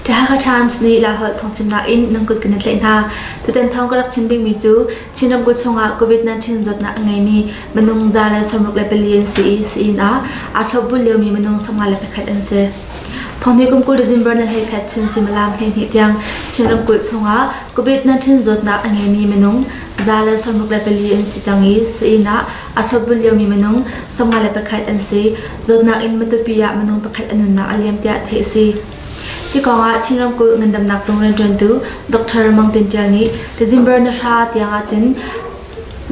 Jehovah Times nih Laholh thawngchimnak in nan kut kan i tlaih hna. Tutan thawng ka rak chim dingmi cu Chin ramkulh chungah COVID-19 zawtnak a ngeimi minung za le sawmruk le pali an si i sain ah aa thlopbul liomi minung sawmnga le pakhat an si. Thawngni kum kul December na hlei khat chun suimilam hleihnih tiang Chin ramkulh chungah COVID-19 zawtnak a ngeimi minung Za le sawmruk le pali an si cang i sainn ah aa thlawpbunh liomi minung sawmnga le pakhat an si. Zawtnak in matupi ah minung pakhat a nunnak a liam tiah theih a si. Hi kongah Chin ramkulh ngandamnak zung rianṭuantu Dr. Mang Tin Ṭial nih Tazimbar na hra tiang ahcun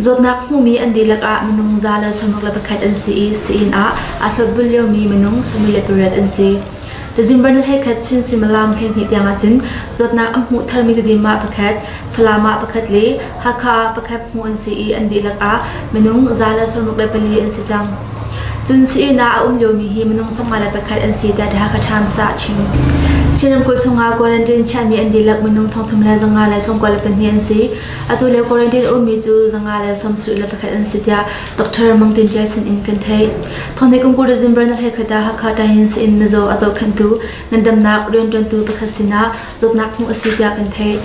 zawtnak hmumi an dihlak ah minung za le sawmruk le pakhat an si i sainn ah aa thlawpbunh liomi minung sawmri le pariat an si. Tazimban le hleikhat Chin suimilam hleihnih tiang ahcun zawtnak an hmuh tharmi Tedim ah pakhat, Falam ah pakhat le Hakha ah pakhat hmuh an si i an dihlak ah minung za le sawmruk le pali an si cang. Cun sii-inn ah a um liomi hi minung sawmnga le pakhat an si tiah The Hakha Times ah a chim. Chin ramkulh chungah quarantine chiahmi an dihlak minung thongthum le zanga le sawmkua le pahnih an si. Atu le quarantine ummi cu zanga le sawmsarih le pakhat an si tiah Dr. Mang Tin Ṭia sin in kan theih. Thawngthei Kungku le Zimber na hlekhata Hakha Tayin Sein Mazaw a zohkhenhtu ngandamnak rianṭuantu pakhat sinah zawtnak hmuh a si tiah kan theih.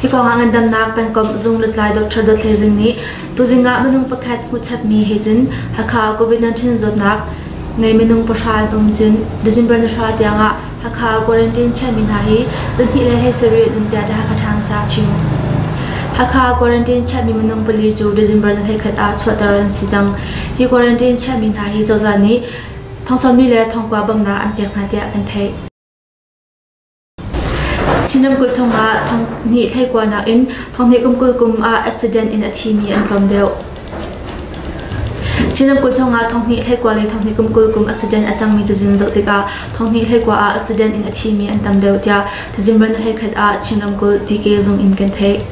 Hi kong ah ngandamnak pengkomh zung lutlai Dr. Dawt Hle Zing nih tuzing ah minung pakhat hmuh chapmi he cun Hakha COVID-19 zawtnak ngei minung pahra an um cun December ni hra tiangah Hakha quarantine chiahmi hna hi zarhnih le hlei sarih an um tiah Hakha Times ah a chim. Hakha quarantine chiahmi minung pali cu December ni hleikhat ah chuahter an si cang. Hi quarantine chiahmi hna hi cozah nih thongsammi le thongkua bamnak an pek hna tiah kan theih. Chin ramkulh chung ah thonghnih hleikua nakin thonghnih kum kul kum ah accident in a thimi an tlawm deuh. Chin ramkulh chungah Thonghnih hleikua le Thonghnih kum kul kum accident a cangmi cazin zoh tikah Thonghnih hleikua ah accident in a thimi an tam deuh tiah Tazimran hleikhat ah Chin ramkulh PK zung in kan theih.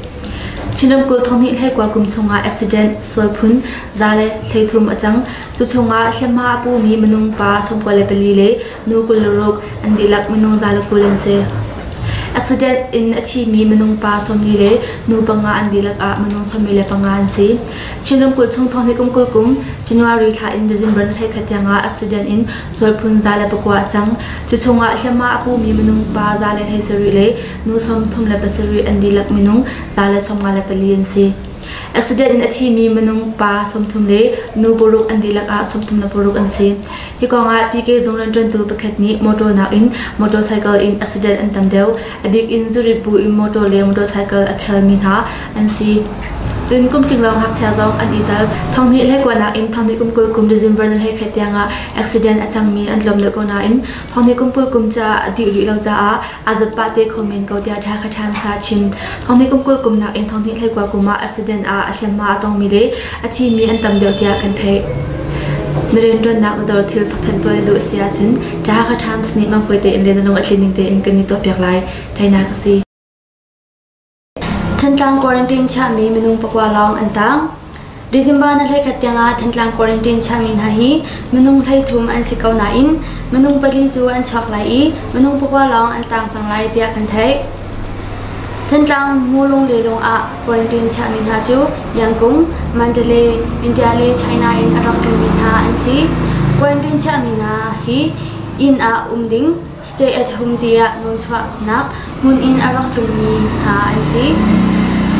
Chin ramkulh Thonghnih hleikua kum chungah accident, sualphun, za le thleithum a cang. Cu chungah hliamhma a pumi minung pa sawmkua le pali le nu kul le ruk an dihlak minung zale kul an si. Accident in a thimi minung pa sawmli le nu panga an dihlak ah minung sawmli le panga an si. Chin ramkulh chung thawngni kum kul kum January thla in December thla khat tiang ah accident in sualphun za le pakua a cang. Cu chungah hliamma a pumi minung pa za le hlei sarih le nu sawm thum le pasarih an dihlak minung za le sawmnga le pali an si. Accident in a thimi minung pa sawmthum le nu paruk an dihlak ah sawmthum le paruk an si. Hi kongah PK zung rianṭuantu pakhat nih motor nakin motorcycle in accident an tam deuh. A bik in zurit bu in motor le motorcycle a khelmi hna an si. Cun kum tling lawng ngakchia zong an itel. Thonghnih le kua nakin thonghnih kum kul kum December ni hlei khat tiangah accident a cangmi an tlawm deuh ko nain thonghnih kum kul kum caah a dih rih lo caah A zappa te khom men ko tiah ṭha kha ṭhansa a chim. Thawngnih kum kul kumnak in thawngnih hleikua kum ah accident ah a hliamhma a tongmi le a thimi an tam deuh tiah kan theih. Na rianṭuannak na dor thil thawkthan tuah na duh a si ahcun ṭha kha ṭhams nih mangfoi tein le na lung a tlin ning tein kan i tuahpiak lai. Ṭhainak a si. Thantlang quarantine chiahmi minung pakua lawng an tang. December na hlekhat tiangah Thantlang quarantine chiahmi hna hi minung hleithum an si ko nain minung pali cu an chuak lai i minung pakua lawng an tang cang lai tiah kan theih. Thantlang Mulung Lelung ah quarantine chiahmi hna cu Yangkung, Mandalay, India le China in a rak ummi hna an si. Quarantine chiahmi hna hi inn ah um ding, Stay at home tiah ruangchuahnak hmun in a rak tlungmi hna an si.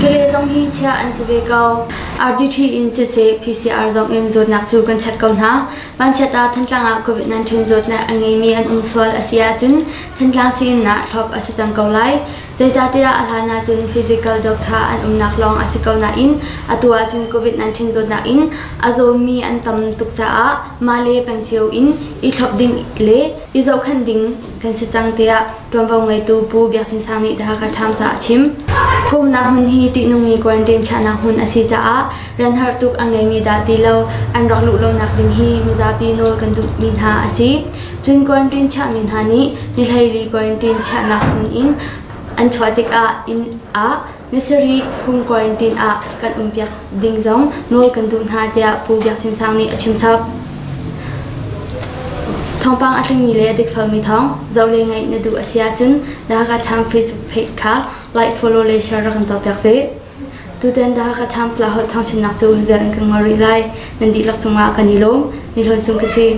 Kale zong hi chiah an si ve ko. RDT in siseh PCR zong in zawtnak cu kan chat ko hna. Vanchiat ah Thantlang ah COVID-19 zawtnak a ngeimi an um sual a si ahcun Thantlang siinah thlop a si cang ko lai. Zeicahtiah a hlan ahcun physical doctor an umnak lawng a si ko nain atu ahcun COVID-19 zawtnak in a zawmi an tam tuk caah mah le pengcio in i thlop ding le I zohkhan ding kan si cang tiah ṭuanvo ngeitu Pu Biak Chin Sang nih The Hakha Times ah a chim. Phumnak hmun hi ṭihnungmi quarantine chiahnak hmun a si caah ran har tuk a ngeimi dah ti lo an rak luh lonak ding hi mizapi nawl kan duhmi hna a si. Cun quarantine chiahmi hna nih ni hleili quarantine chiahnak hmun in an chuah tikah inn ah Ni sarih kum quarantine ah kan umpiak ding zong nawl kan duh hna tiah Pu Biak Chin Sang nih a chim chap. Thawngpang a tlingmi le dikfelmi thawng zoh le ngaih na duh a si ahcun The Hakha Times Facebook page kha like, follow le share rak kan cawpiak ve. Tutan The Hakha Times la holh thawngchinak cu hi vial in kan ngol rih lai. Nan dihlak cungah kan i lawm. Ni hlawn sung ka si.